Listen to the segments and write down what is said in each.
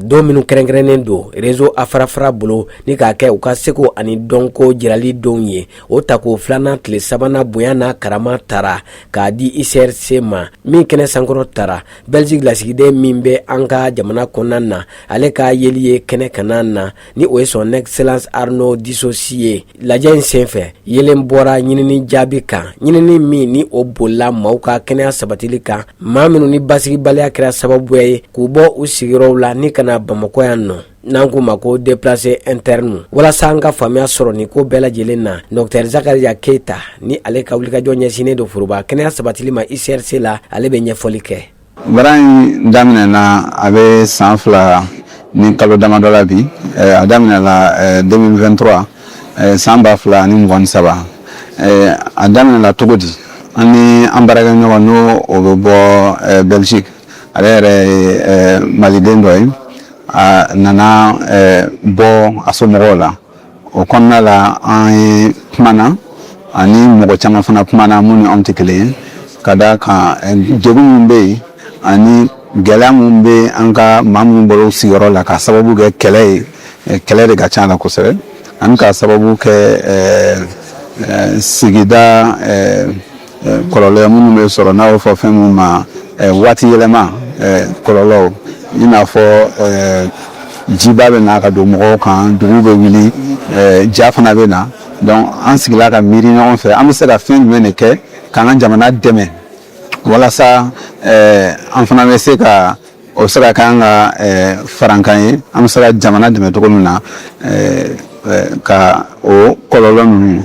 don minnu kɛrɛnkɛrɛnnen don rezo afrafra bolo ni k'a kɛ u ka seko ani dɔnko jirali donw ye o tako filanan tile sabanan bonya n'a karama tara k'a di ucrc ma min kɛnɛ sankɔrɔtara belgique lasigiden min bɛ an ka jamana kɔnɔna na ale ka yeli ye kɛnɛ kanna na ni o ye son excellence arnaud dusaucy ye Lajɛ in senfɛ yeelen bɔra ɲinini jaabi kan ɲinini min ni o bolila maaw ka kɛnɛya sabatili kan maa minnu ni basigibaliya kɛra sababu ye k'u bɔ u sigiyɔrɔw la ni ka na bamakɔ yan nɔ n'an k'u ma ko déplacés internes ninnu walasa an ka faamuya sɔrɔ nin ko bɛɛ lajɛlen na docteur zakaria keyita ni ale ka wulikajɔ ɲɛsinnen don foroba kɛnɛya sabatili ma ucrc la ale bɛ ɲɛfɔli kɛ baara in daminɛna a bɛ san fila ni kalo damadɔ la bi a daminɛla 2023 san ba fila ni mugan ni saba a daminɛla cogo di an ni an baarakɛɲɔgɔn ni o bɛ bɔ belgique ale yɛrɛ ye maliden dɔ ye a nana bɔ a somɔgɔw la o kɔnɔna la an ye kumana ani mɔgɔ caman fana kumana minnu ni an tɛ kelen ye ka da kan eh, degun minnu bɛ yen ani gɛlɛya minnu bɛ an ka maa minnu bolo sigiyɔrɔ la k'a sababu kɛ kɛlɛ ye eh, kɛlɛ de ka ca a la kosɛbɛ ani k'a sababu kɛ eh, sigida kɔlɔlɔ minnu bɛ sɔrɔ n'a bɛ fɔ fɛn minnu ma waati yɛlɛma kɔlɔlɔw i n'a fɔ jiba bɛ na ka don mɔgɔw kan dugu bɛ wuli ja fana bɛ na donc an sigila ka miiri ɲɔgɔn fɛ an bɛ se ka fɛn jumɛn de kɛ k'an ka jamana dɛmɛ walasa an fana bɛ se ka o bɛ se ka k'an ka farankan ye an bɛ se ka jamana dɛmɛ cogo min na ka o kɔlɔlɔ ninnu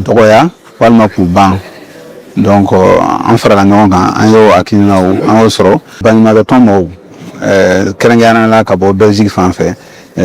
dɔgɔya walima k'u ban donc an farala ɲɔgɔn kan an y'o hakilina an y'o sɔrɔ baɲumankɛtɔn mɔgɔw kɛrɛnkɛrɛnnenya la ka bɔ belgique fan fɛ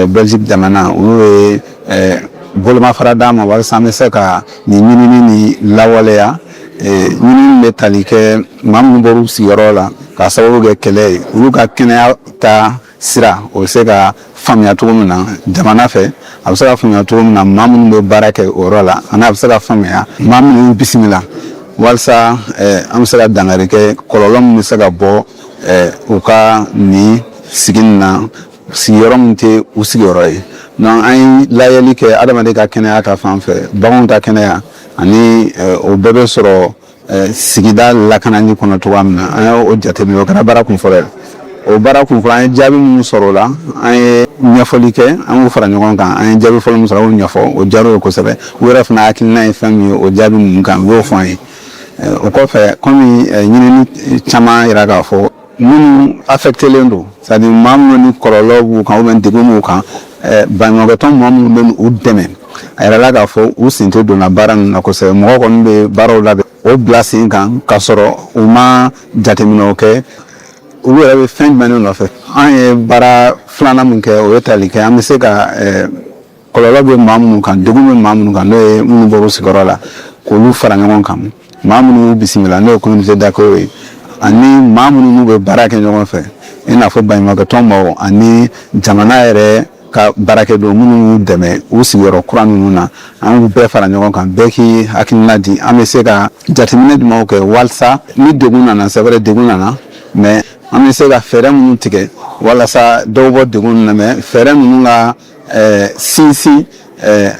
Belgique jamana olu ye eh, bolomafara d'an ma walasa an bɛ se ka nin ɲinini nin lawaleya eh, ɲinini bɛ tali kɛ maa minnu bɔr'u sigiyɔrɔ la k'a sababu kɛ kɛlɛ ye olu ka kɛnɛya ta sira o bɛ se ka faamuya cogo min na jamana fɛ a bɛ se ka faamuya cogo min na maa minnu bɛ baara kɛ o yɔrɔ la ani a bɛ se ka faamuya maa minnu bisimila walasa eh, an bɛ se ka dankari kɛ kɔlɔlɔ min bɛ se ka bɔ eh, u ka nin sigi nin na sigiyɔrɔ min tɛ u sigiyɔrɔ ye donc an ye lajɛli kɛ adamaden ka kɛnɛya ta fan fɛ baganw ta kɛnɛya ani eh, o bɛɛ bɛ sɔrɔ eh, sigida lakanani kɔnɔ cogoya min na an ye o jateminɛ o kɛra baara kun fɔlɔ ye o baara kun fɔlɔ an ye jaabi minnu sɔrɔ o la an ye ɲɛfɔli kɛ an k'u fara ɲɔgɔn kan an ye jaabi fɔlɔ min sɔrɔ an y'o ɲɛfɔ o diyara u ye kosɛbɛ u yɛrɛ fana hakilina ye fɛn min ye o jaabi ninnu kan u y'o fɔ an ye Eh, o kɔfɛ kɔmi eh, ɲinini caman yira k'a fɔ minnu afɛktelen don c'est-à-dire maa minnu ni kɔlɔlɔ b'u kan bɛ degun b'u kan eh, baɲumankɛtɔn mɔgɔ minnu bɛ u dɛmɛ a yirala k'a fɔ u sen tɛ donna baara ninnu na kosɛbɛ mɔgɔ kɔni bɛ baaraw labɛn o bila sen kan k'a sɔrɔ u ma jateminɛw kɛ olu yɛrɛ bɛ fɛn jumɛn nɔfɛ an ye baara filanan min kɛ o ye tali kɛ an bɛ se ka eh, kɔlɔlɔ bɛ maa minnu kan degun bɛ maa minnu kan n'o ye minnu bɔra u sigiyɔrɔ la k'olu fara ɲɔgɔn kan maa minnu y'u bisimila n'o ye communauté d'accueil ye ani maa minnu n'u bɛ baara kɛ ɲɔgɔn fɛ i n'a fɔ baɲumankɛtɔn mɔgɔw ani jamana yɛrɛ ka baarakɛden minnu y'u dɛmɛ u sigiyɔrɔ kura ninnu na an y'u bɛɛ fara ɲɔgɔn kan bɛɛ k'i hakilina di an bɛ se ka jateminɛ jumɛnw kɛ walasa ni degun nana c'est vrai degun nana mais an bɛ se ka fɛɛrɛ minnu tigɛ walasa dɔw bɔ degun na mais fɛɛrɛ ninnu ka ɛɛ sinsin ɛɛ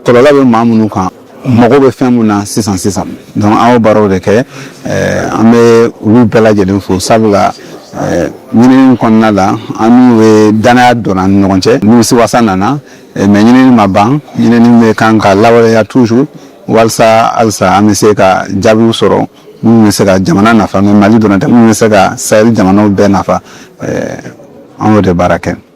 kɔlɔlɔ bɛ maa minnu kan mago bɛ fɛn min na sisan sisan donc an y'o baaraw de kɛ ɛɛ an bɛ olu bɛɛ lajɛlen fo sabula ɛɛ ɲinini kɔnɔna la an n'u ye danaya don an ni ɲɔgɔn cɛ nimisiwasa nana mais ɲinini ma ban ɲinini bɛ kan ka lawaleya toujours walisa halisa an bɛ se ka jaabiw sɔrɔ minnu bɛ se ka jamana nafa mais mali dɔrɔn tɛ minnu bɛ se ka sahɛli jamanaw bɛɛ nafa an y'o de baara kɛ